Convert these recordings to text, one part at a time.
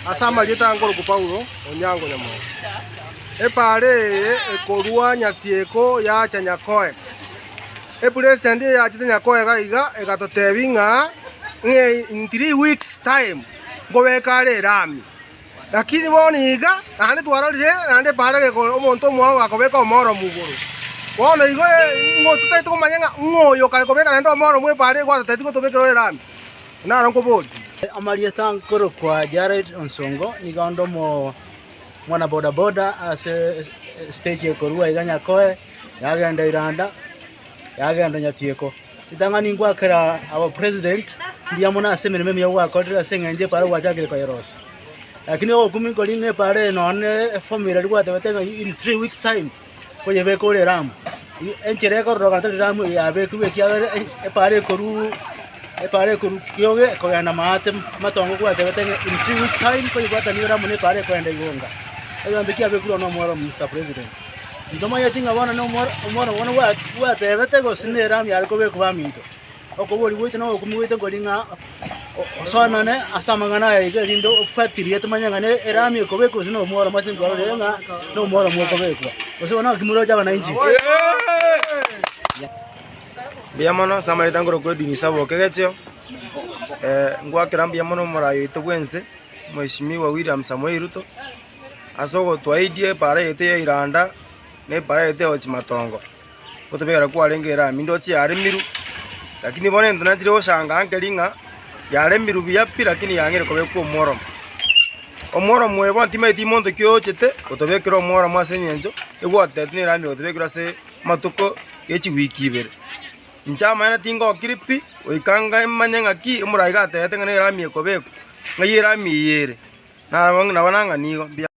Ase amarieta ankoroku Paulo, Onyango Nyamongo. Epaara eye ekorua nyatieko yacha Nyakoe. Epresident eyachete Nyakoe iga iga egatotebi ng'a ng'e in three weeks time nkobeke are erami. Lakini bono iga naende twarorire naende epaara geko omonto omwao akobeka omoromu igoro. Bono igo e- ng'o totaete komanya ng'a ng'oyo kare kobeka naende omoromu epaara egwatoteti gotobekera ore erami. Naro nkoborie, amarieta nkorokwa Jared Onsongo, nigo onde omwana boda boda ase estage ekorwa iga Nyakoe, yagenda Iranda, yagenda Nyatieko. Ritang'ani ngwakera our president mbuya mono ase emeremo emiya gwakorire ase eng'encho epara gwachakire koyerosia. Lakini ogokumi nkori ng'a epara eye nonya ne efomira rigwatebete ng'a in three weeks time, koyebeka ore Ramu. Enchera ekororoka tari Ramu eye yabekigwe, ekiagera epaara ekorwa epaara ekorwa kioge kogenda maate matongo kwatebete ng'a in three weeks time koyebwatanigwe Ramu na epaara ekogenda igonga. Ekero gento kiabekirwe oo na omworo oo Mister President. Intomanyeti ng'a bono na omworo omworo bono bwa bwatebete gose ne Ramu yare kobekwa baminto. Okobori goito na obokumi boito nkori ng'a osoanane ase amang'ana aya iga erinde ofuatilie tomanye ng'a ne- eraami ekobekwa gose nomworoma ase nkwarorire ng'a nomworoma okobekwa. Gose bono naki moroche abananchi? Mbuya mono ase amaete angorwa kwa Edwin Isaba Okegechio. Eh, ngwakera mbuya mono omorai oito bwense, Mweshimiwa William Samoei Ruto, ase ogotoaidie ebara yaito ya Iranda, na ebara yaito ya Ochimatongo. gotobegera kwarenge erami ndoche yaremiru, lakini bono ento nachire goshangaa nkeri ng'a yaremiru buya pi lakini yang'eire kobekwa omworomo. Omworomo oyo bono timanyeti monto ki oyochete gotobekera omworomo ase eng'encho egwotebeti na erami egotebekire ase amatuko ya chiweek ibere. Inche amaene tingokiri pi goika ngamanye ng'aki omoraai gatebete ng'a nerami ekobekwa, ng'ai erami eye ere, nabo nang'a nigo mbiato.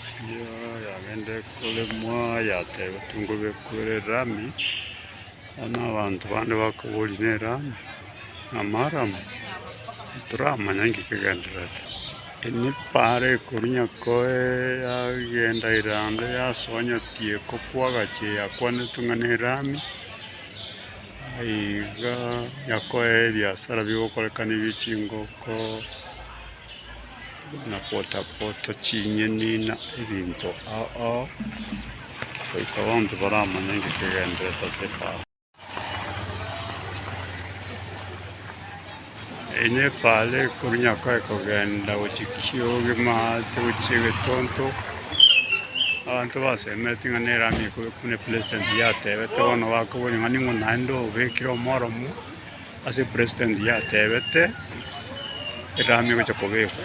Erio yagenda ekoremwa, yateba, Tongobekwa ere Rami, bono abanto bande bakoboria, Ne Rami? Ng'ama Aramu? Toramanya inki kegendererete. Erio epaara ekoru nyakoe yagenda ere ande, yasoa nyati ekopwa agache eyakwanetwe ng'a ne Rami. Iga nyakoe ebiasara bigokorekana ebie chingoko. na pota-pota chinyeni na ebinto ao, goika bonsi baramanye ng'a kegenderete ase efaari. Erio efaari ekorwa nyakore kogenda gochia kioge maate gochia egetonto, abanto basemeti ng'a nere amiikube, buna President yatebete bono bakoboria ng'a ning'o naende obekire omoromo Ase president yatebete erami egocha kobekwa.